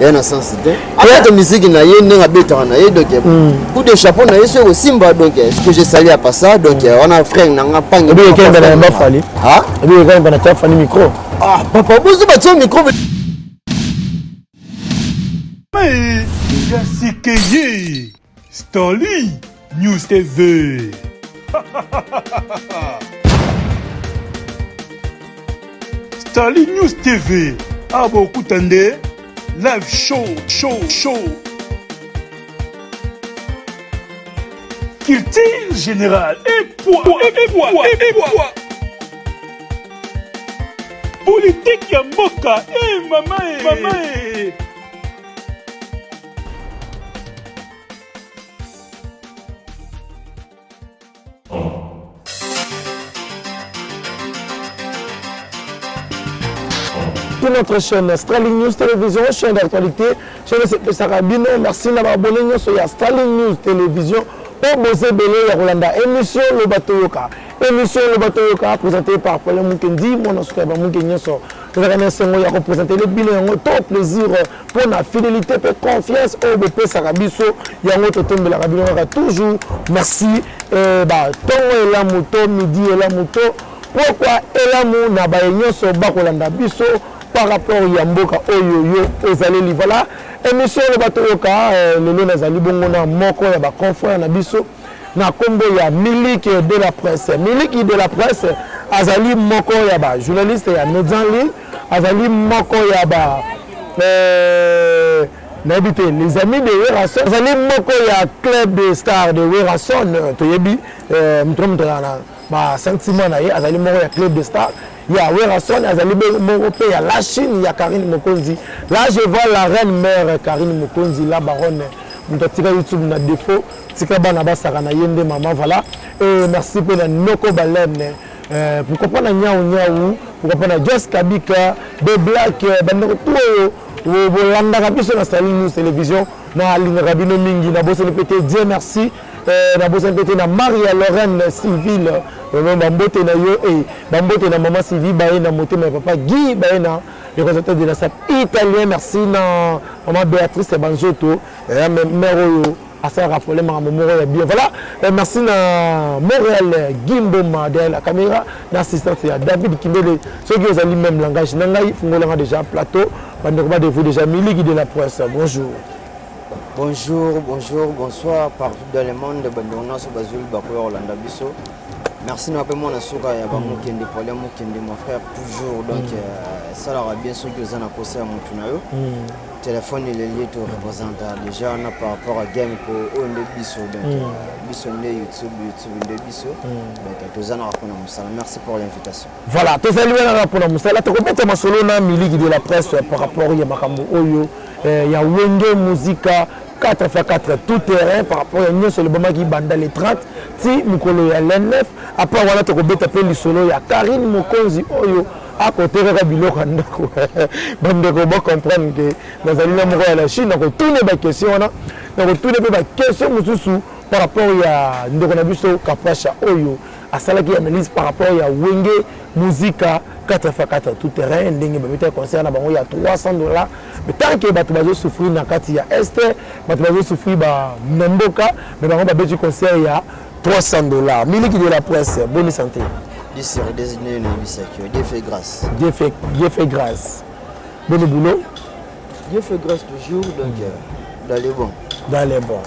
ye na sense te ayaka miziki na ye ndenge abetaka na ye donc hmm. coup de chapeau na ye soki ekosimba donc ce que je sali apa ça donc wana frère na nga pangi obi ekembe na yamba fali obi ekembe na tia fali micro ah papa bozo batia micro mais ya sikeye Starly News TV. Starly News TV. Awa bokuta nde live show show show. Culture générale et poids et poids et poids. Politique ya mboka et mama et mama et Pour notre chaîne Sterling News Télévision, chaîne d'actualité, chaîne de Sarabino, merci d'avoir abonné nous sur Sterling News Télévision. Pour vous abonner à Rolanda, émission Le Bateau Yoka. Émission Le Bateau Yoka, présentée par Paul Moukendi, mon ancien Moukendi, nous avons un ya kopresente le bino yango to plaisir mpo na fidelité mpe confiance oyo bopesaka biso yango totombelaka bino kaka toujours merci eh, batongo elamu to midi elamu to pokwa elamu na baye nyonso bakolanda biso par rapport ya mboka oyo yo ozaleli voilà émission oyo bato yoka eh, lelo nazali bongo na moko ya baconfrère na biso na nkombo ya miliki de la presse miliki de la presse azali moko ya bajournaliste ya médian ligne azali moko ya ba euh, nayebi te les amis de werrason azali moko ya club de star de werrason toyebi euh, moto na moto azala na basentiment na ye azali moko ya club de star ya werrason azali moko mpe ya la chine ya karine mokonzi là je vois la reine mère karine mokonzi la baronne moto atika youtube na défaut tika bana basaka na ye nde mama voilà et merci mpe na noko balene Euh, pourquoi pas na nyau nyau pourquoi pas na jos kabika de black euh, bandeko tu oyo euh, bolandaka biso na sali news télévision nalingaka bino mingi nabosani mpe te die merci nabosani mpe te na maria lorraine civile bambote na yo e bambote na mama sylvie baye na motema ya papa guy baye na le representateur de la sat italien merci na mama béatrice ya banzoto mare oyo asalaka problème makambo moko ya bien voilà eh, merci na montréal eh, gimboma derrière la caméra na assistante ya david kindele soki ozali même langage na ngai fungolanga déjà plateau bandeko badevu déjà miliki de la presse bonjour bonjour bonjour bonsoir partout dans le monde bandeko nyonso bazwili bakoya kolanda biso merci na mpe mwana suka ya bamokende pole mokende mon frère toujours donc mm. euh, esalaka bien soki oza na posa ya motu na yo mm. telefone eleli to representa deja wana par rapport à game po oyo nde biso donc mm. biso nde youtube youtube nde biso mm. donc toza naka mpona mosala merci pour l'invitation voilà tozali wana kaka mpona mosala tokobeta masolo na miliki de la presse par rapport ya makambo oyo eh, ya wenge musika 4 fois 4 tout terrain par rapport ya nyonso elobamaki banda le 30 ti mokolo ya le 9 apart wana tokobeta mpe lisolo ya karine mokonzi oyo akote kaka biloko ya ndako bandeko bocomprendre ke nazali na moko ya la chine nakotune baquestion wana nakotune mpe baquestion mosusu par rapport ya ndeko na biso kapasha oyo asalaki analyse par rapport ya wenge muzika kata fa kata tout terrain ndenge babetaki concert na bango ya 300 dollars mais tant que bato bazosouffrir na kati ya este bato bazosouffrir na mboka mais bango babeti concert ya 300 dollars miliki de la presse bonne santé disir designé no yebisaki yo dieu fait grâce dieu fait, dieu fait grâce boni boulot dieu fait grâce toujours donc euh, dans les bons dans les bons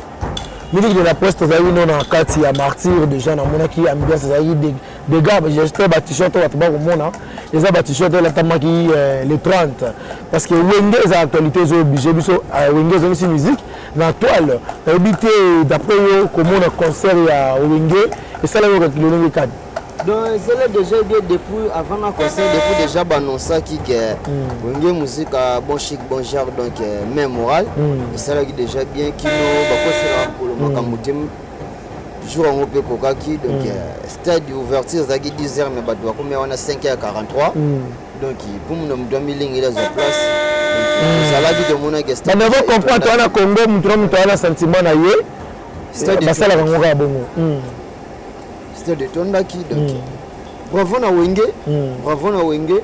miliki de la presse tozalaki no na kati ya martyr déjà namonaki ambiance ezalaki degat gestre ba t-shirt oyo bato bakomona eza ba t-shirt elatamaki euh, le 30 parce que wenge eza actualité ezo oblige biso euh, wenge ezongisi musique na toile nayebi te d'après yo komona concert ya wenge esalaki oyo lolenge kani donc ezala déjà ebie depuis avant na concert depuis déjà baannoncaki ke hmm. wenge musique a bon chic bon genre donc euh, main morale hmm. esalaki déjà bien kino bakoselaka kolo hmm. makambo te jour yango mpe ekokaki donc mm. euh, stade ouverture ezalaki 10 heures mais bato bakomia wana 5 heures 43 mm. donc mpo muna moto amilingeli azwa place mm. ezalaki tomonaki stade avo comprendre wana congo moto na moto wana sentiment na ye eh, basalaka ngo kaka bongo stade etondaki donc bravo na wenge bravo na wenge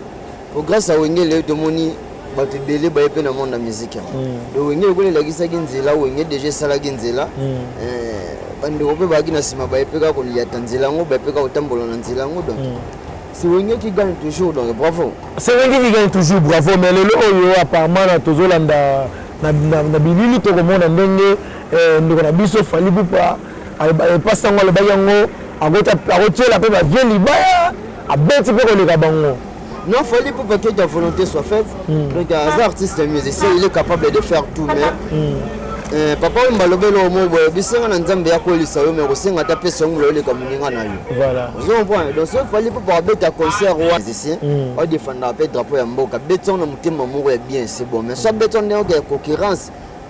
po grâce ya wenge leo tomoni bato ebele baye mpe na monde ya miziki yango hmm. donc wenge lokola elakisaki nzela wenge deja esalaki nzela hmm. eh, bandeko mpe bayaki na nsima baye mpe kaka koliyata nzela yango baye mpe kaka kotambola na nzela yango donc hmm. c'est wenge qui gagne toujours donc bravo c'est wenge qui gagne toujours bravo mais lelo oyo apparemment na tozolanda na bilili tokomona ndenge eh, ndeko na biso fali pupa epasango alobaki yango akotyela mpe bavie libaya abeti mpe koleka bango Non, Fally pour que ta volonté soit faite. Mm. Donc, un artiste, un musicien, il est capable de faire tout, mais. Mm. Eh, papa oyo mbalobeli oyo moi boye bisenga na nzambe ya kolisa yo mais kosenga ata pesa yango loleka moninga na yo ozo comprendre donc soki fali mpo bakobeta concert wana musicien odefendaka mpe drapeau ya mboka beti yango na motema moko ya bien c'est bon mais so abeti yango ndenge ya concurrence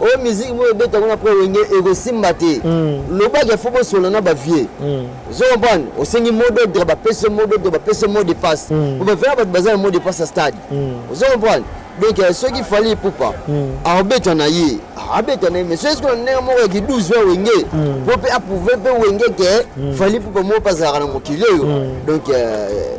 oyo oh, miziki boyo ebeta yango na pre wenge ekosimba te hmm. lobaki afo bosola na bavie hmm. ozo comprendre osengi mot d'ordre bapesi mot d'ordre bapesi mot de passe po hmm. bavela bato baza na mot de passe ya stade ozo comprendre donc euh, soki fali epupa akobeta na ye abeta na ye mais soki sikoyo na ndenge moko ya ki12 ya wenge po mpe aprouve mpe wenge ke fali epupa moko mpe azalaka na mokili oyo donc euh,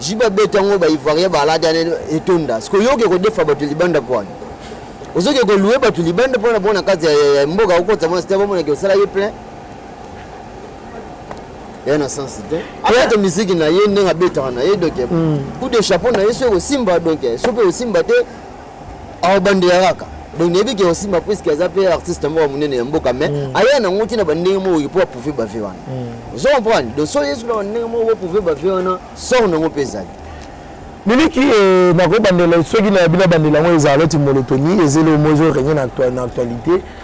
JB abeti yango ba Ivoirien balati ane etonda. Siko yoke kodefa bato libanda mpo wana. Ozoki kolue bato libanda mpo wana mpo na kati ya mboka okotisa mwana site bamona ke osala ye plein. Ye na sens te. Abeta miziki na ye ndenge abetaka na ye donc hmm. coup de chapeau na ye soki osimba donc soki osimba te awa bandela kaka donc nayebi ke osimba puiske aza mpe artiste moko ya monene ya mboka mais mm. aya nango ntina bandenge moko mpo aprouve bave wana mm. ozo comprendre donc so yesu na bandenge moko aprouve bave wana sor nango mpe ezali miliki eh, nakobandela soki na bino abandela yango ezala loti molotoni ezeli omozo renye na actualité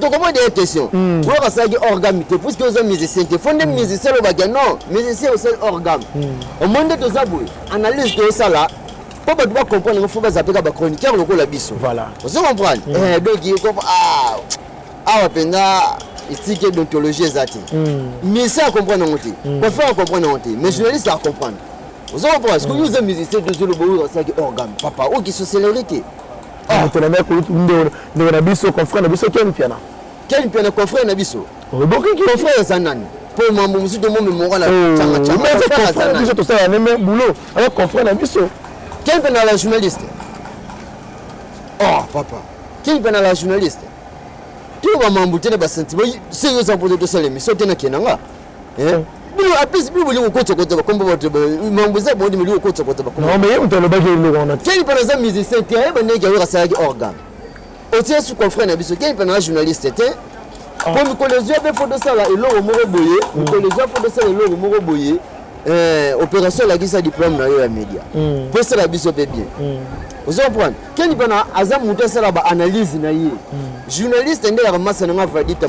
tokomona ye question oyo basalaki orgame te puiske oza musicien te fo nde hmm. musicien alobaka non musicien osali orgame hmm. omoni nde toza boye analyse tosala mpo bato bacomprendre yango fo bazapeka bachroniqueur lokola biso ozo comprendre hmm. eh, donc ah, awa mpenza etiki edontologie eza te musicien acomprendre yango te confere acomprendre yango te mais journaliste acomprendre oza comprendre soki oza musicien tozo loba oyo asalaki orgame papa oyo kisoselere te moto na ndako ndeko na biso confrère na biso ken piana ken piana confrère na biso obokiki confrère aza nani mpo mambo mosusu tomo memora na cangacangabiso tosala neme boulot aza confrère na biso ken piana la journaliste oh papa ken piana la journaliste toyoka mambo te na basentiment senge oza mpote tosala emission te na kenanga bino apesi bino bolingo kotokota bakombo bato mambo eza boni bolingo kotokota bakomboye moto alobaki eloko wana keni mpana aza musicien te ayeba ndenge awera asalaki organe otie su confrère na biso keni mpana aza journaliste te ah. mpo mikolo ezwi mpe fo tosala eloko moko boye mm. mikolo ezwi fo tosala eloko moko boye eh, opération elakisa diplôme na yo ya média mm. mpo esala biso mpe bien mm. ozo comprendre keni mpana aza moto asala baanalyse na ye journaliste nde yaka masa na nga vadita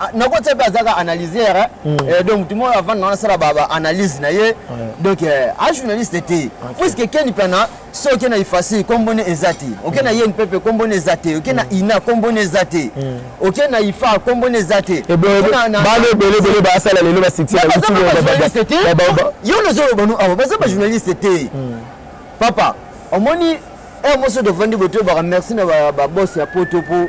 Ah, nakotia mpe azaka analyser eh. hmm. eh, donc motu moko avanda wana asala baanalyse na ye donc eh, a journaliste te puiske keni mpana so oke na ifasi nkombo ne eza te oke na hmm. ye mpepe nkombo ne eza te oke na hmm. ina nkombo ne eza te oke na ifa nkombo ne eza te bana ebele ebele basala lelo basikiajournaliste te yo nazoloba no awa baza bajournaliste te papa omoni heure moso tofandi botoyebaka merci na babos ya poto mpo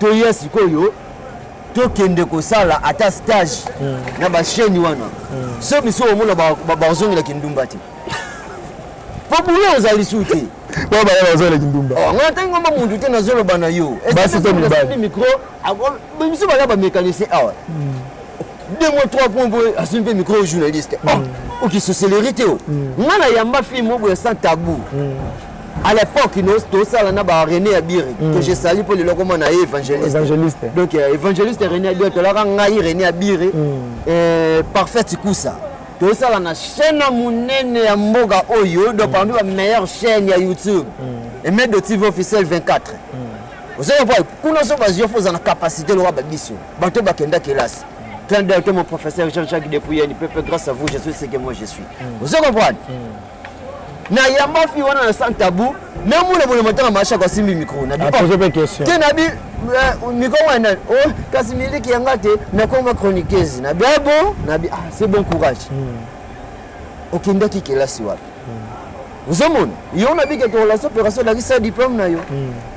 toya sikoyo tokende kosala ata stage mm. na basheni wana mm. so biso omona bazongela kindumba te po bulo oza lisu te po baya bazongela kindumba oh, nga ntangi ngoma muntu te nazoloba na yo basi to mibali micro biso baya bamécanicien awa mm. deux mois trois points boye asimi mpe micro journaliste oh, okisoselerie te o nga na yamba fille moko ya sans tabou à l'époque nous tosala na ba René Abiri mm. que je salue pour le loko mona évangéliste évangéliste donc euh, évangéliste René Abiri tolaka ngai René Abiri mm. euh, parfait kusa tosala na chaîne monene ya mboga oyo donc mm. parmi ba meilleure chaîne ya YouTube mm. et mettre de TV officiel 24 mm. ozoya boy kuna so bazio foza na capacité loka ba biso bato bakenda kelasi Plein d'heures, mon professeur Jean-Jacques Dépouillé, il peut grâce à vous, je suis ce que moi je suis. Vous comprenez na yamba fi wana na sans tabou na mona mona matanga masha kwa simbi micro na bi poser pe question te na bi euh, micro wana oh kasi miliki yanga te na koma chroniqueuse na bi ah bon na bi ah c'est bon courage hmm. okendaki kelasi wapi hmm. ozomona yo na bikeke relation opération elakisa diplôme na yo hmm.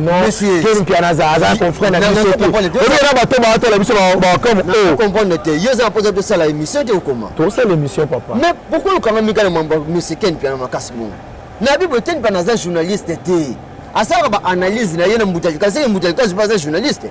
Ken Mpiana aza aza confrère na biso te. Oyo na bato ba tola biso ba comme oh. Comprendre te. Yo za poza to sala émission te okoma. To sala émission papa. Mais pourquoi le kanga mikala mambo monsieur Ken Mpiana makasi bongo. Na bible Ken Mpiana aza journaliste te. Asalaka ba analyse na ye na mbuta likazi mbuta likazi aza journaliste.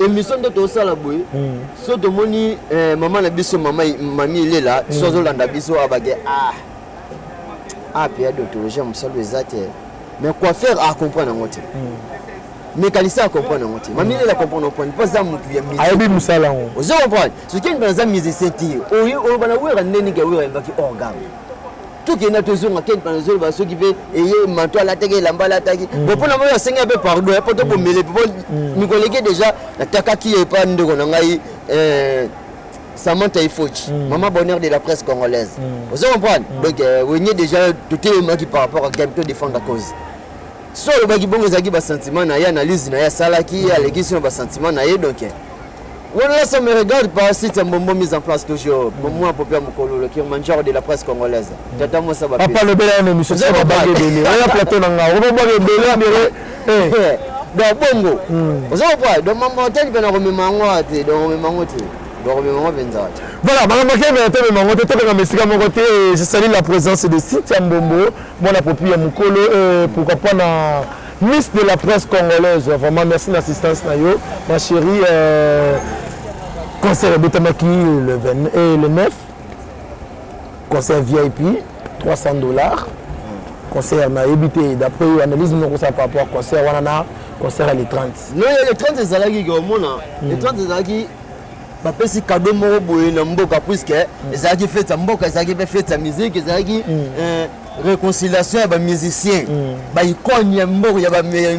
emission nde tosala boye hmm. so tomoni eh, mama na biso mama mami elela hmm. so azolanda biso abake ah ape ah, ya dontologie ya mosalo eza te mais coiffeur acomprendre yango te mécanicien acomprendre yango te mami elela comprendre comprendre mpo aza motu ya ayebi mosala yango ozo comprendre soki eni bana aza musicien te oyo olobana wera nde nike wera ayembaki organe tokenda tozonga ken panazoloba soki mpe eye manto alataki elamba alataki mm. bo mpona moi asengela mpe pardon ya mpo tobomele mpo mikolo eke deja natakaki ye epa ndeko na ngai eh, Samantha Ifochi, mm. maman bonheur de la presse congolaise. Mm. Vous comprenez mm. Donc, euh, Wenge déjà, tout est qui par rapport à Game, tout défendre la cause. so alobaki bongo ezalaki basentiment na ye analyse na ye asalaki ye alekisi na basentiment na ye donc wana là ça me regarde pas site ya mbombo mise en place toujours bomoi pope ya mokololo kirmanjor de la presse congolaise tata mosa papa lobela ya memiso babage ebele oya plateau na ngai obabage ebele ebele eh. eh, donc bongo hmm. oza kopa donc mambo otali mpe nakomema yango te donc omema yango te bakomema yango mpenza te voilà makambo akemela te omema yango te tokokama esika moko te je sali la présence de site ya mbombo Mwana popi ya mukolo eh, pourquoi pas na Miss de la presse congolaise vraiment merci na assistance na yo ma chérie euh, concert ebotamaki le, 20, eh, le 9 concert VIP 300 dollars concert nayebi te d'après yo analyse noko sa par rapport concert wana na concert ya le 30 le 30 ezalaki komona le 30 ezalaki bapesi kado moko boye na mboka puiske mm. ezalaki fete ya mboka ezalaki mpe fete ya miziki ezalaki mm. eh, réconciliation ya bamusicien mm. baikone ya mboka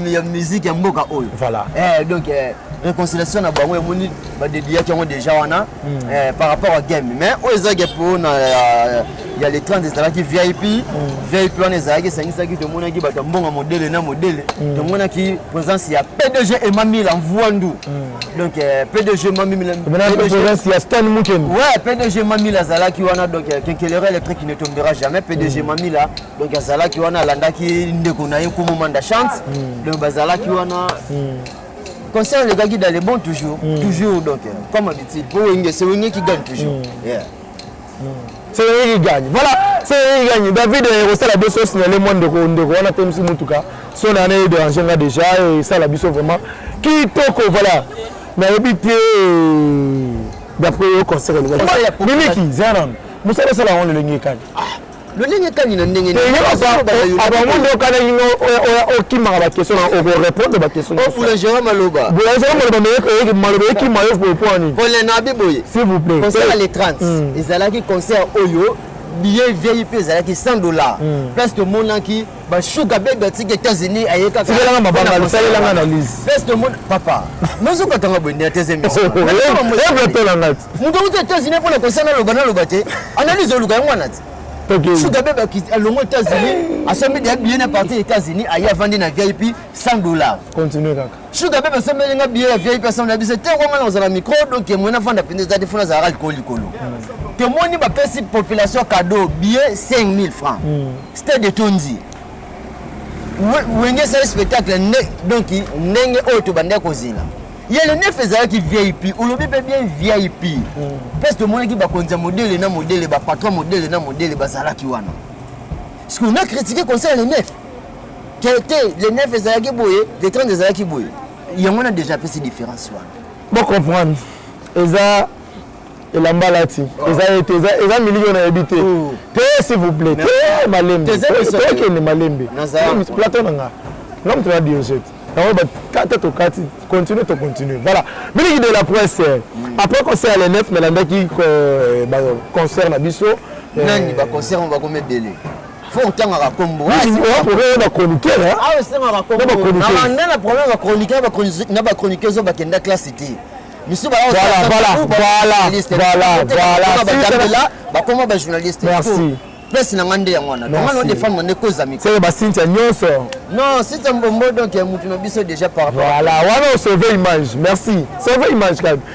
ya miziki ya mboka oyo voilà. eh, donc eh, réconciliation na bango emoni badediyaki yango déjà wana mm. eh, par rapport à game mais oyo ezalaki mpo na eh, ya le 30 ezalaki vip mm. vip wana ezalaki esangisaki tomonaki bato ya mbongo modele na modele mm. tomonaki présence ya pdg emamila mvuandu mm. donc euh, pdg mamilaaprésence ya stan mukeni ouais pdg mamila azalaki wana donc euh, kenkelera électrique ne tombera jamais pdg mamila donc azalaki wana alandaki ndeko na ye komomanda chante donc bazalaki wana concert elekaki dans le bon toujours toujours donc euh, comme habitude po wenge se wenge qui gagne toujours yeah Cédric gagne voilà Cédric gagne David eh, ekosala biso signale mwa ndeko ndeko wana te misi motuka so na naye dérange nga déjà esala eh, biso vraiment kitoko voilà nayebi te eh, d'après yo concert elingaki mimiki zera nano mosala osala yango lolenge ekani lolenge kani na ndenge abango nde okanaki no okimaka bakestion na okorepondre bakestionboulangerie maloba boulangerie maloba meyeke maloba ekima yo popo nini kolena abi boye s'il vous plaît concert ya le 30 hmm. ezalaki concert oyo billet vip ezalaki 100 dollars hmm. place tomonaki mm. ba sugar baby atika États-Unis aye kaka tikela nga mabanga lusalela nga analyse best de mon papa nozo kata nga bwende ya teze mission ebla tola nga ti mutu uta États-Unis pona kosana loba na loba te analyse oluka yango wana ti sugar baby akiti alongo États-Unis asombi dia billet na parti États-Unis aye avandi na VIP 100 dollars continue kaka Sugar bebe sombeli nga billet ya VIP assemble na biso te kwa nga na ozala micro donc ye mwena fanda pende zati funa zala likolo likolo. Te moni ba pesi population cadeau billet 5000 francs. Hmm. C'était de Tonzi. Wenge sali spectacle nde donc ndenge oyo tobandaki kozela. ye le nef ezalaki vip olobi mpe bien vip hmm. parce tomonaki bakonzi ya modele na modele bapatron modele na modele bazalaki wana ce qu'on a critiqué conseil le nef te te le 9 ezalaki boye le 30 ezalaki boye yango wana déjà apesi différence wana bocomprendre eza elamba alati oh. eza ye te eza miliki oyo nayebi te oh. te s'il vous plaît te malembe tokende malembe plateau na nga nga moto na diogete yango bakata tokati continue to continue voilà miliki de la presse eh. mm. après concert le 9 nalandaki eh, concert na biso eh. nani baconcert bakomi ebele fo otangaka kombo na chroniqueur awa esengaka kombonabanda na problème ya chroniqueur na bachroniqueur oyo bakenda classe te misusu baobatambela bakoma bajournaliste place na ngai nde yango wana donga no defendre nde koza mikolo basintia nyonso non sintia mbombo donc ya motu na biso déjà par rapport voilà wana osauve image merci sauve image kaka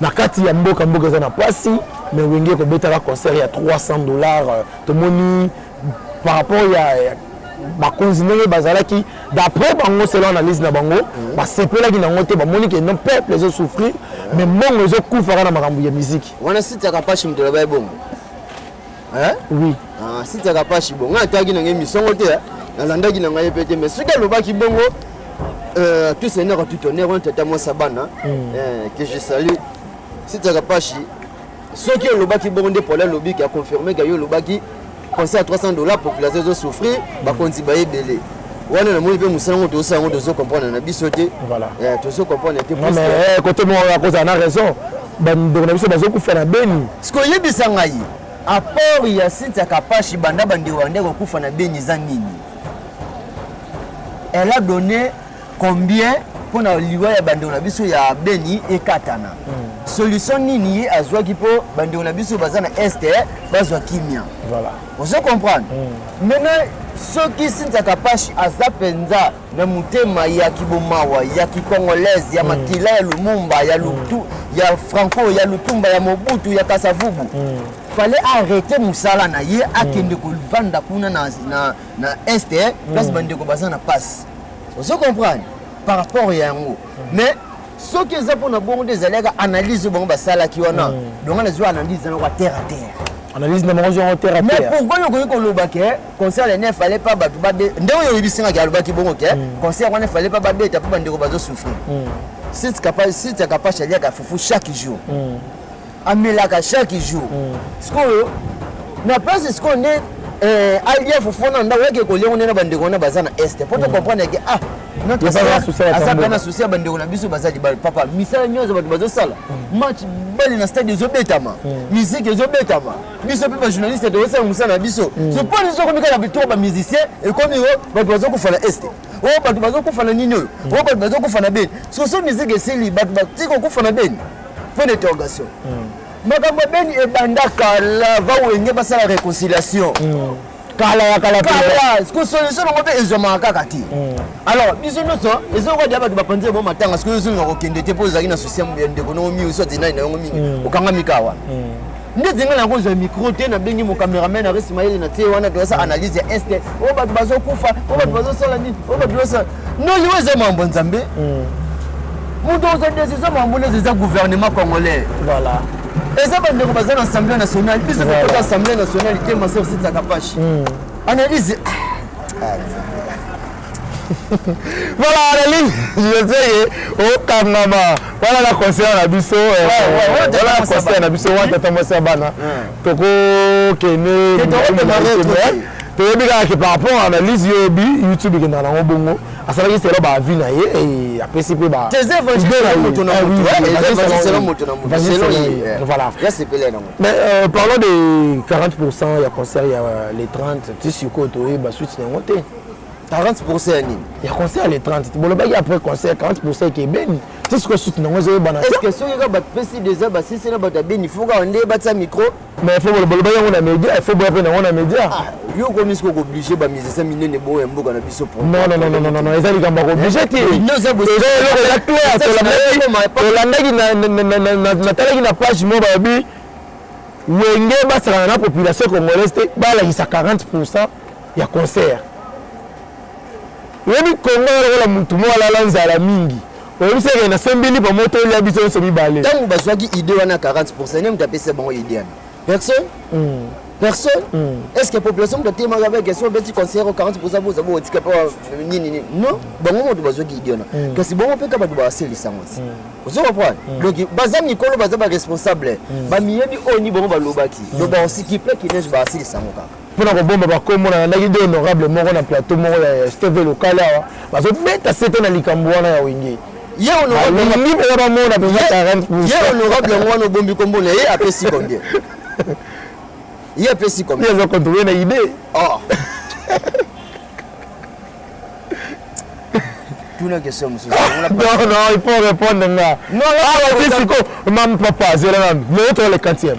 na kati ya mboka mboka eza na pasi mais wenge ekobetaka concert ya 300 dollars euh, tomoni par rapport ya, ya bakonzi ndenge bazalaki d'après bango selo analyse na bango mhm. basepelaki nango te bamoni ke non peuple ezosouffrir mais mbongo ezokufaka na makambo ya miziki wana site ya kapashi moto aloba ebongo Hein? Oui. Ah, si tiaka pashi bongo ataki na ngai misongo te. Hein? nalandaki na ngai mpe te mais soki alobaki bongo euh, tout seigneur tout tonnerre wana tata mwasi ya bana mm. euh, que je salue sitiaka pashi soki olobaki bongo nde pole alobi ke aconfirme ke yo olobaki conseil ya 300 dollar population ezosouffrir mm. bakonzi baye ebele wana namoni mpe mosala yango tozosala yango tozo comprendre na biso te euh, tozo comprendre te kote moko akozala na raison Ba ndeko na biso bazo kufa na Beni. Siko yebisa ngayi apport ya site ya Kapashi banda ba ndeko banda ko kufa na Beni eza nini? Elle a donné combien mpo na liwa ya bandeko na biso ya beni ekatana mm. solution nini ye azwaki mpo bandeko na biso baza na este eh, bazwa kimia voilà. ozo comprendre mm. maintenant soki sinzaka pashi aza mpenza na motema ya kibomawa ya kikongolaise ya mm. makila ya lumumba ya mm. lutu mm. ya franco ya lutumba ya mobutu ya kasavubu mm. fallait arrêter mosala na ye akende mm. kovanda kuna na, na, na est eh, mm. place mm. bandeko baza na passe ozo comprendre par rapport ya yango mm. mais soki eza mpona bongo nde ezalaka analyse oyo bango basalaki wana mm. donga nazwi analyse yango ya terre à terre analyse na bango zongo terre à terre mais pourquoi okoki koloba ke concert ya ne fallait pas bato babe nde oyo oyebisingaki alobaki bongo ke mm. concert wana fallait pas babeta mpo bandeko bazosouffrir mm. site ya kapasha aliaka fufu chaque jour mm. amelaka chaque jour sikoyo na place sikoyo nde eh, alia fufu wana ndako yake koliango nde na bandeko wana baza na este mpo tocomprendre yake ah aza mpe na susi ya bandeko na biso baza libala papa misala nyonso bato bazosala match bale na stade ezobetama miziki ezobetama biso mpe bajournaliste tokosala mosala na biso mm. so mpo biso okomi kaka bitoko bamusicien ekomi oyo bato bazokufa na este oyo bato bazokufa na nini oyo oyo bato bazokufa na beni soso miziki esili bato batika kokufa na beni mpo na interrogation mm. makambo ya beni ebanda kala bawenge basala réconciliation mm. kala ya kala kala siko solution nango mpe ezwamaka kaka te hmm. alors biso nyonso ezokoka dia bato bapanzi yango matanga sikoyo ozolinga kokende te mpo ozalaki na susi ya ndeko nango mingi osi atinai na yango mingi hmm. okangami kawa hmm. nde zinga na yango ozwa micro te nabengi mocameraman aresmayele na tie wana toyasa analyse ya este oyo bato bazokufa oyo bato bazosala nini oyo bato bazosala non yo eza mambo ya nzambe moto oza decision mambo neza eza gouvernement congolais voilà eza bandeko baza na assemblée nationale biso tokota assemblée nationale te maser sitsaka pashi analyse voilà analyse je sais ye okangama wana na conseiller na biso wana na conseiller na biso wana tata mwasi ya bana tokokende toyebi kaka ke par rapport à analyse yo oyebi youtube ekendaka nango bongo asalaki selo baavi na ye eh, apesi mpe ba mais euh, parlons de 40 pourcent ya concert ya euh, les 30 ti sikoyo toyeba suite na yango te 40% ya nini ya concert le 30 bolobaki après concert 40% eke ebeni ti sikoyo suti nango ezoyebana est ce que soki kaka bato pesi deja basisi na bato ya beni fo kaka nde batia micro mais fo bolobaki yango na média fo boya mpe nango na média ah, yo okomi sikoyo kooblige bamusicien minene boyo ya mboka na biso non eza likambo ya kooblige eh, te eloko eza clair tolandaki natalaki na page moko balobi wenge basakana na population congolaise te balakisa 40 pourcent ya concert oyebi kongo ya lokola motu moko alala nzala mingi oyebisi eke nasembi lipa moto olia biso nyonso mibale ntango bazwaki ide wana 40 pourcent nde moto apesa bango ide yana personne mm. personne mm. est ce que population moto atemaka mpe question obeti conseiller 40 pourcent boza bokotika mpe nini nini non bango moto bazwaki ide wana mm. kasi bango mpe ka bato baselisa yango ti mm. ozo comprendre mm. donc baza mikolo baza baresponsable mm. bamiyebi oyo ni bango balobaki mm. donc baosikipe kineje basilisa yango kaka mpo na kobomba bakombo na landaki de honorable moko na plateau moko ya steve lokale awa bazobeta sete na likambo wana ya wenge ye olingi mpenza bamona mpenzaye honorable yango wana obombi kombo na ye apesi combien ye apesi combien aza controle na idee oh. tuna question mosusu non non il faut répondre nga awa ti siko mam papa zela nanu mais otola le quantième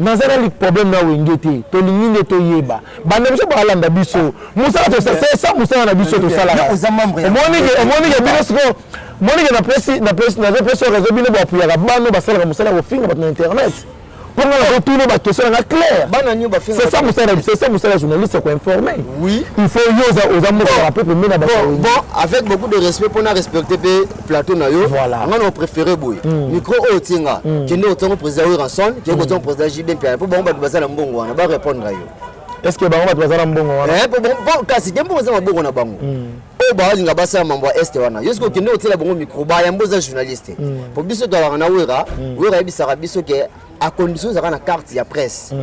naza na problème na wenge te tolingi nde toyeba banda biso balanda biso mosala tosasa mosala na biso tosalaka omonike bino sikoyo monike napesi napesi nazopesi rezo bino boapuyaka bano basalaka mosala ya kofinga bato na internet mpo nga nakotuna bakestion nanga clairesesa mosala sesa mosala ya journaliste koinforme il faut yo oza mokaka mpe komena baavec beaucoup de respect mpo na respecte mpe plateau na yo voilà. nga na préféré boye mm. micro oyo otie nga mm. kende otiango président wilranson kende mm. otiango président jb mpiana mpo bango bato baza na mbongo wana barépondre yo est ce que bango bato baza na mbongo wana eh, kasi te mbongo eza mabongo na bango mm. oyo balinga basala mambo ya este wana yo soki okende otiela bango micro bayambo oza journaliste mm. mpo biso tolaka na wera mm. wera ayebisaka biso ke acondition ezalaka na carte ya presse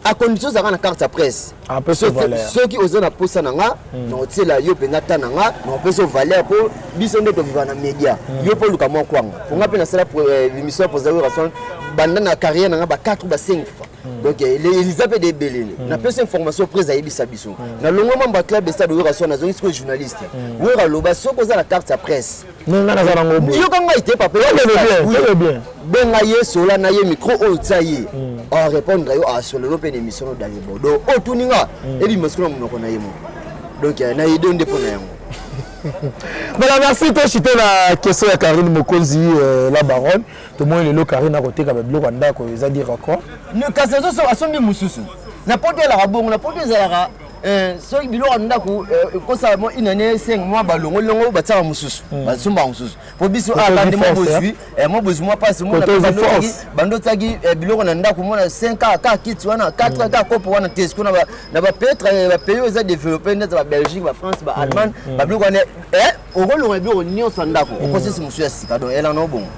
a condition ozalaka na carte ya presse ah, soki oza na mposa na nga hmm. na otiela yo mpenza ta na nga na opesi yo valeur mpo biso nde toviva na média hmm. yo mpo oluka mwa kwanga mpo nga mpe nasala eh, émission ya posaoration banda na carrière na nga ba 4 ba 5 fois hmm. donc eh, eliza mpe debelele napesi information prise ayebisa biso nalongwa mambo ya club estade oyoka so nazongi sikoyo journaliste oyoka loba soki oza na carte ya presse ndenge ngai naza nango boye yoka ngai te papa bien benga ye sola na ye micro oyo otya ye hmm. arépondre yo asololo mpe na émission odali bodo otuni nga hmm. ebima sikola monoko na ye moko donc eh, na ideo nde mpo na yango voilà merci toshite na question ya karine mokonzi euh, la baronne tomoni lelo karine akoteka babiloko ya ndako eza dire quoi kasi asombi mosusu na poto elaka bongo na poto ezalaka Eh, soki biloko ya ndako eh, ekosala mwa une année cinq mwa balongoli longo batiaka mosusu hmm. basomba mosusu mpo biso alande mwa bozwi eh. mwa bozwi mwa mpasi bando otiaki biloko na ndako mona cinq ka ka kiti wana quatre hmm. ka kopo wana te sikoyo na bapetre bapays oyo eza développe neti babelgique bafrance baallemagne hmm. babiloko wana okolonga biloko nyonso ya ndako okosisi mosusu ya sika donc elana obongo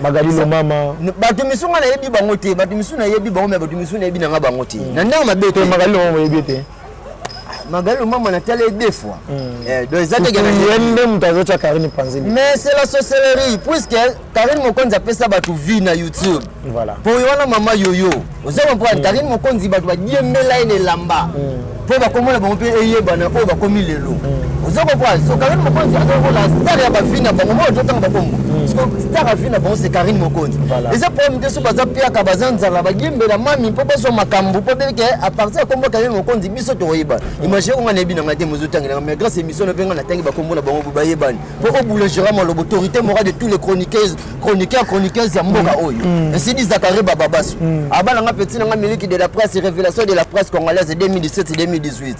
magali lomama bato misu nga nayebi bango te bato misu nayebi bango me bato misu nayebi na nga bango te hmm. na ndenge mabe te magali lomama oyebi te magali lomama natala ye deux fois hmm. eh, donc eza teke nayembe moto azotya karine panzeli mais c'est la sorcellerie puisque karine mokonzi apesa bato vie na youtube voilà mpo yo wana mama yoyo oza comprendre karine mokonzi bato badiembela ye na elamba mpo mm. bakomona bango mpe eyebana oyo bakomi lelo mm. oza comprendre so karine mokonzi azokola star ya bavi na bango moi ozotanga bakombo mm. star avi na bango se karine mokonzi eza problème te so baza piaka baza nzala badiembela mami mpo bazwa makambo mpo beke apartir ya kombo karine mokonzi biso tokoyebana imagine konga nayebi na ngai te mozotangelanga mais grâce émission na mpe ngai natangi bakombo na bango bayebani mpo obula gérama lobo autorité morale de tous les chroniqueuses chroniqueur chroniqueuse ya mboka mm. oyo mm. esidi zakare bababasu mm. abana nga petit na nga miliki de la presse révélation de la presse congolaise 2017 2018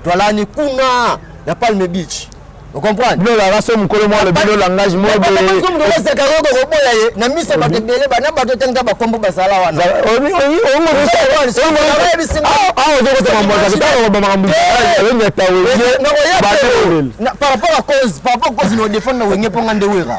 toalani kuna na palme beach okomprendrebilolanga so mokolo mwa lobi lolangage moeeosekayoko koboya ye na miso bato ebele bana bato etanga bakombo basala wanaozokotamamboaoyataweparaport a cause paraport cause na odefendre na wenge mpo nga nde wera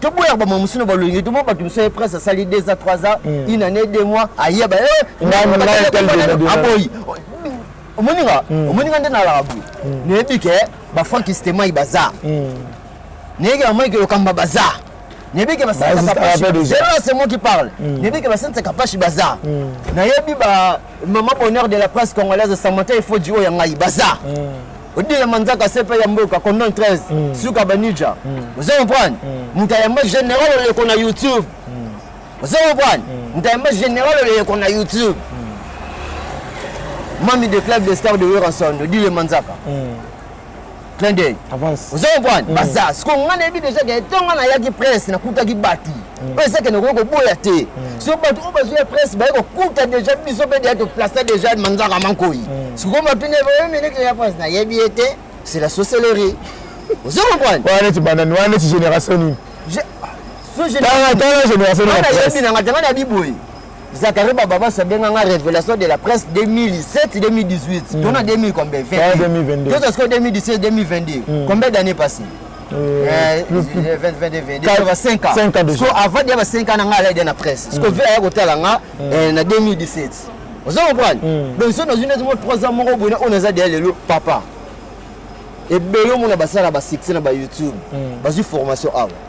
toboyaka bamama mosusu na balongi toma bato mosusu ye prince asali deux ans trois ans hmm. une année deux mois ayeba aboyi omoninga omoninga nde nalaka boye nayebi ke bafrankistemai baza nayebi ke mike lokamba baza nayebi ke basense moi qui parle nayebi ke basense kapashi baza nayebi ba mama bonheur de la presse congolaise samanta efodi oyo ya ngai baza odila manzaka sepa ya mboka condon 13 mm. suka banija mm. ozo comprendre mm. moto ayamba général oleko na youtube mm. ozo comprendre mm. moto ayamba général oleko na youtube mm. mami de club de star de weranson odile manzaka mm. clin d'œil ozo comprendre mm. baza siko ngai nayebi déjà ke ntongo nayaki presse nakutaki bato Mm. oyo ezakende okoki koboya te mm. so bato oyo bazwi ya presse baye kokuta déjà biso mpe deya toplace déjà manzaka mankoi mm. sikoyo matuni bayo minute ya presse nayebi ye te c'est la sorcellerie ozo comprendre wana neti banani wana neti génération nini tala génération nanga tanga na biboye Zachary Bababas abenga nga révélation de la presse 2007 2018 tona 2000 combien 2022 tozwa sikoyo 2017 2022 combien d'année passé siko avandi ya ba 5 ans na nga alaide na presse siko ve aya kotala nga na 2017 ozo comprendre donc so nazwi neti mo 3 ans moko boye na oyo naza deya lelo papa ebele omona basala basuccès na bayoutube bazwi formation awa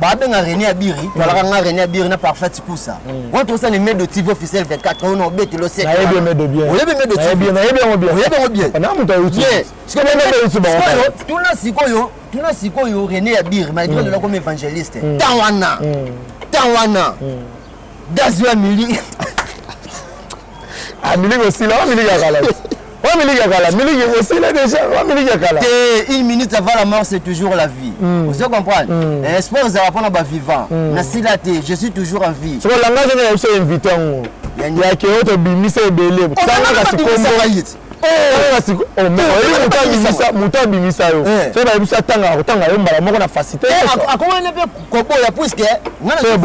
babenga René Abiri tolaka nga René Abiri na Parfait Tikusa wana tokosa ne medo TV officiel 24 oyo na obeti lo sete nayebi medo bien oyebi medo TV nayebi yango bien oyebi yango bien na moto ayuti sikoyo na moto ayuti bango sikoyo tuna sikoyo tuna sikoyo René Abiri malgré lola comme évangéliste tant wana tant wana Dazua Mili Ah, miliki osila wa miliki ya kala wa miliki ya kala miliki osila deja wa miliki ya kala te une minute avant la mort c'est toujours la vie mm. ozo comprendre mm. eh, espoir ozala mpona bavivant mm. nasila te je suis toujours en vie soko langage nayebisa invité yango yake oyo tobimisa ebele tangaka sikombo moto abimisa yo eh. soki bayebisi atangaka kotanga yo mbala moko na fasite eh, akomani mpe koboya puiske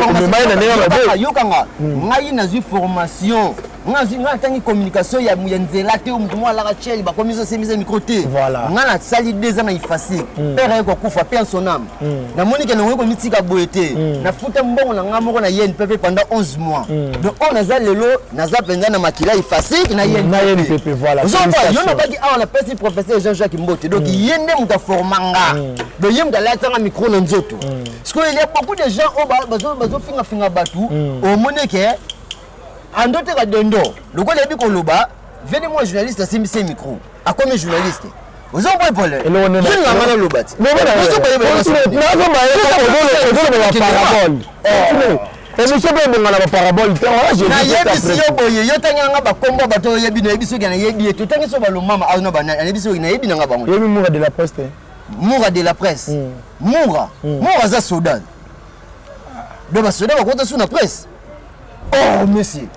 omemai na ndenge ayokanga hmm. ngai nazwi formation ngai natangi communication ya nzela te moto moko alaka chel bakomi zosemisa mikro te ngai nasali deux ans na ifasik hmm. pere aye kokufa pe ensoname hmm. namoni ke nangoki komitika boye te nafuta mbongo na ngai moko na yen pepe pendant 11 mois donc oyo naza lelo naza mpenza na makila efasike na ye na ye mpepe voilà ozomba yo nabaki awa napesi professeur jean jacques mbote donc mm. ye nde moto aforma nga mm. donc ye moto alatisanga micro na nzoto mm. sikoyo il y a beaucoup de gens oyo bazofingafinga bato omoni ke andoteka dendo lokola yebi koloba vene mwa journaliste asimbisi micro akomi journaliste oza mpo epole yinga nga naloba ti emission mpe ebonga na baparabole te nayebisi yo boye yo tangi nanga bakombo ya bato oyebi nayebi soki nayebi ye totangi so balomama au na banani nayebi soki nayebi nanga bango yebi mura de la presse te mura de la presse mura mura aza soda do basoda bakota su na presse Oh, monsieur.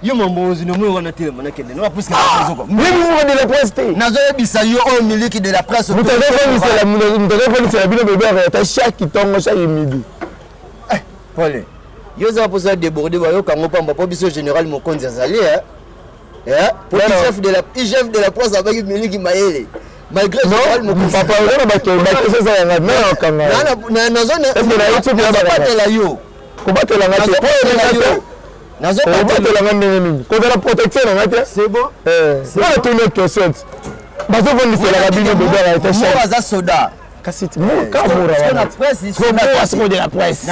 yo mambo ozwi na moi wana telema nakende na bapusi nazoka mimi moko de la presse te nazoyebisa yo oyo miliki de la presse moto azokomisela bino bebe areta chaque ntongo chaque midi eh, pole yo ozala mposa ya deborde bayoka yango mpamba mpo biso général mokonzi azali eh? Eh? po igf de la igf de la presse abaki miliki mayele malgré général mokonzi papa ozana bakeseza yanga nayokangaazana nazobatela yo kobatela nga te obatela nga ndenge nini kozala protection na nga te nga natuni yo question ti bazovondiselaka bino bobela ete aza soda kasi mokamura wana presse de la presse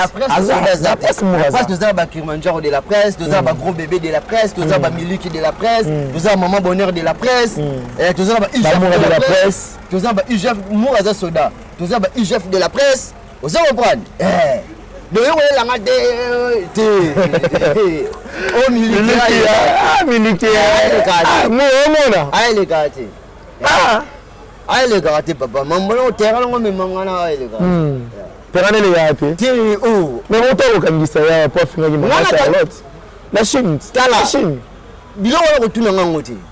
aza presse moraza toza na bakirmanjaro de la presse toza na bagros bébé de la presse toza na bamiliki de la presse toza na maman bonheur de la presse toza na bamoura de la presse toza na baugf moura aza soda toza na baugf de la presse ozo comprendre eh. donc yo kolela nga te te o milikiaomona aeleka te aelekaka te papa mambono terrain yango memanga na aeleka terrain hmm. elekaka te te o oh. mais moto akokangisa ya po afingaki mama charlotte na chine tala biloko wana kotuna ngango te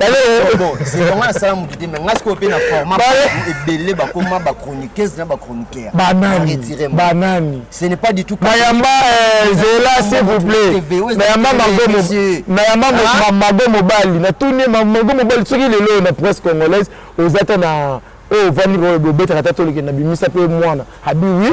yango nasala motu te mai ngai sikoyo mpe na forma ebele bakoma bachroniqueuse na bachroniqueur banani ce n'est pas du tout nayamba eh, zela s'il vous plaît nayamba ah. mago mobali natuni mago mobali soki lelo na presse congolaise oza ta na oyo oh, ovandi obetaka ta tolekende na bimisa mpe mwana abi wi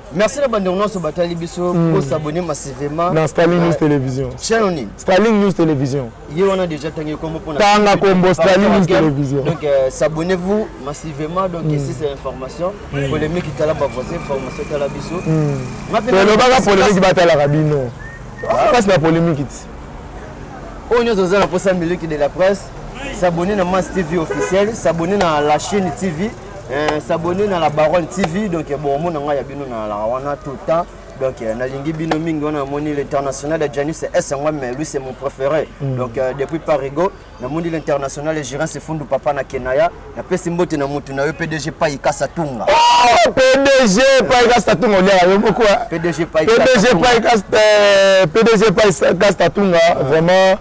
Merci na bande nyonso batali biso mm. ko s'abonner massivement na Staline News Television. Chaîne nini? Staline News Television. Ye wana déjà tangi kombo pona. Tanga kombo Staline News Television. Donc euh, s'abonnez-vous massivement donc mm. ici c'est information mm. polémique itala ba voisin information tala biso. Mm. Pelo baka polémique batala kabino. Ah. Passe la polémique ici. On est aux alentours de la presse. s'abonner na Mass TV officiel, s'abonner na la chaîne TV. Eh, s'abonner na la baronne tv donc eh, bon omona ngai ya bino na la wana tout le temps donc eh, nalingi bino mingi wana namoni l'international ya janis s yango mais lui c'est mon préféré mm. donc euh, depuis parigo namoni l'international ya girin sefundu papa na kenaya napesi mbote na motu na yo pdg pai kasa tunga oh, pdg pai kasa tunga oliaka yo moko pdg pai kasa tunga vraiment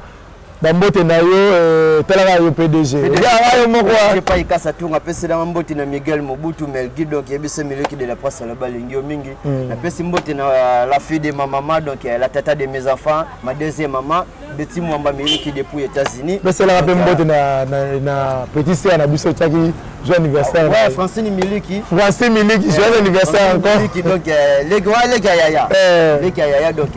bambote na yo eh, talaka yo pdg yanga yo moko epai kasa tunga apeselanga mbote na miguel mobutu melgi donc yebisa mileki de la presse aloba alingi yo mingi hmm. napesi mbote na euh, la fille de ma maman donc euh, la tata de mes enfants ma deuxième maman beti mwamba miliki depuis états-unis peselaka mpe mbote euh, na petit sere na biso otyaki joyeux anniversaire ouais, francine miliki francine miliki joyeux anniversaire encore donc leki wa leki ya yaya eh. leki ya yaya donc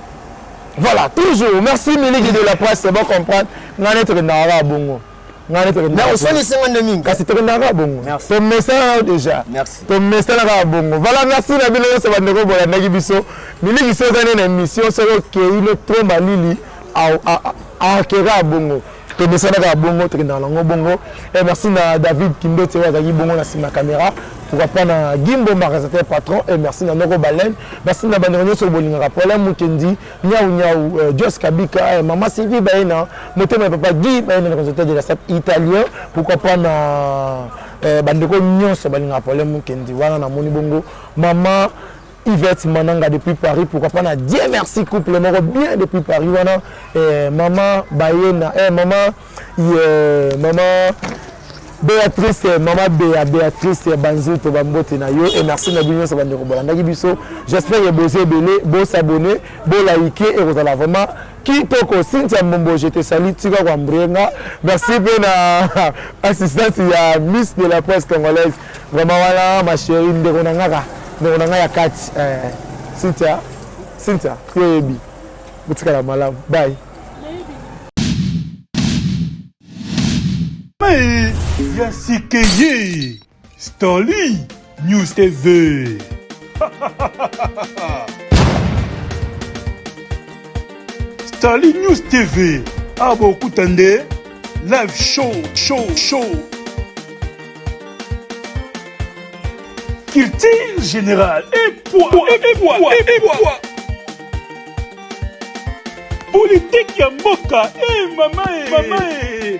voilà toujours merci miliki de la presse c'est bon comprendre ngai nde tokendaka kaka bongo ngai nde tokendakaosalisi ngai nde mingi kasi tokendaka kaka bongo tomesana nao déjà tomesana kaka bongo voilà merci na bino nyonso bandeko bolandaki biso miliki soki oza nde na émission soki okei no trop malili akeka bongo tomesana kaka bongo tokendaka nango bongo eh, merci na david kindote oyo azalaki bongo na nsima ya kamera pourquoi pas na gimbo magasateur patron et eh, merci na noko baleine merci na bandeko nyonso bolingaka pola mukendi nyau nyau euh, jos kabika et eh, mama sylvie baye na motema ya papa guy baye na consulteur de la sat italien pourquoi pas na euh, bandeko nyonso balingaka pola mukendi wana namoni bongo mama Yvette Mananga depuis Paris, pourquoi pas na Dieu merci couple moko bien depuis Paris wana eh, maman Bayena eh, maman yeah, maman Béatrice eh, maman Béa Béatrice eh, Banzuto bambote na yo et merci na bino nyonso bandeko bolandaki biso j'espère que bozo ebele bo s'abonner bo liker et kozala vraiment kitoko Cynthia Mbombo je te salue tika kwa mbrenga merci mpe na assistance ya Miss de la presse congolaise Vraiment wana ma cherie ndeko na ngaka ndeko na ngai ya kati eh, Cynthia Cynthia yo yebi botikala malamu bye ya sikeye Stanley News TV Stanley News TV abokuta nde live show show show Culture générale et poids, et poids, et poids. Politique ya mboka, eh mama, eh mama, eh.